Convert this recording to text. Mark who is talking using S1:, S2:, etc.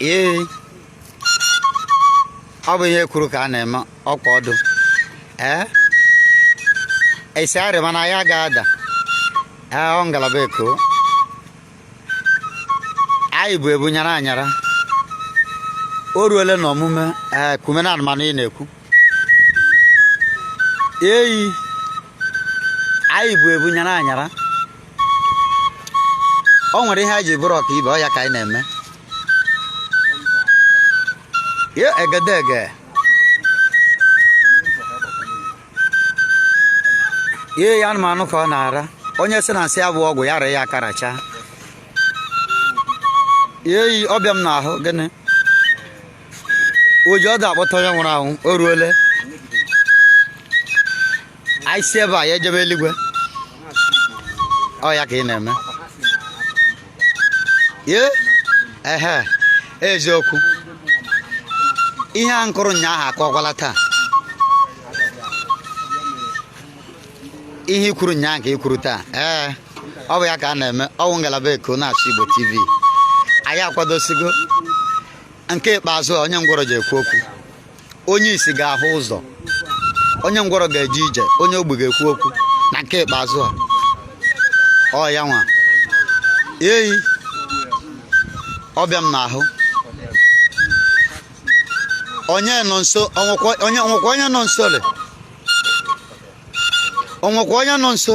S1: ee ọ bụ ihe e kwuru ka a na-eme ọkwa ọdụ ee esi arị mana ya ga-ada ee ọ ngalaba eko anyị bụ ebu nyara anyara o ruole na omume ee eh, kume na anụmanụ ị na-ekwu eyi anyị bụ ebu nyara anyara o nwere ihe anyị ji bụrụ ọka ibe ọ ya ka anyị na-eme egedege eyi anụmanụ ka ọ na-ara onye sị na nsị ya bụ ọgwụ ya rụa ya aka racha eyi ọ bịa m n'ahụ gịnị ụjọ ọ ga-akpọte onye nwụrụ anwụ o ruole anyị si ebe a ya ejebe eluigwe ọ ya ka ị na-eme ye ehe eziokwu ihe ahụ kụrụ ụnyaahụ akụkwala taa ihe i kwuru ụnyaahụ ka i kwuru taa ee ọ bụ ya ka a na-eme ọ wụ ngalaba eko na-asụ igbo tv anyị akwadosigo nke ikpeazụ a onye ngwọrọ ji ekwu okwu onye isi ga-ahụ ụzọ onye ngwọrọ ga-eje ije onye ogbi ga-ekwu okwu na nke ikpeazụ a ọ ya nwa eyi ọ bịa m n'ahụ onye nọ nso o nwekwa onye nọ nso le o nwekwa onye nọ nso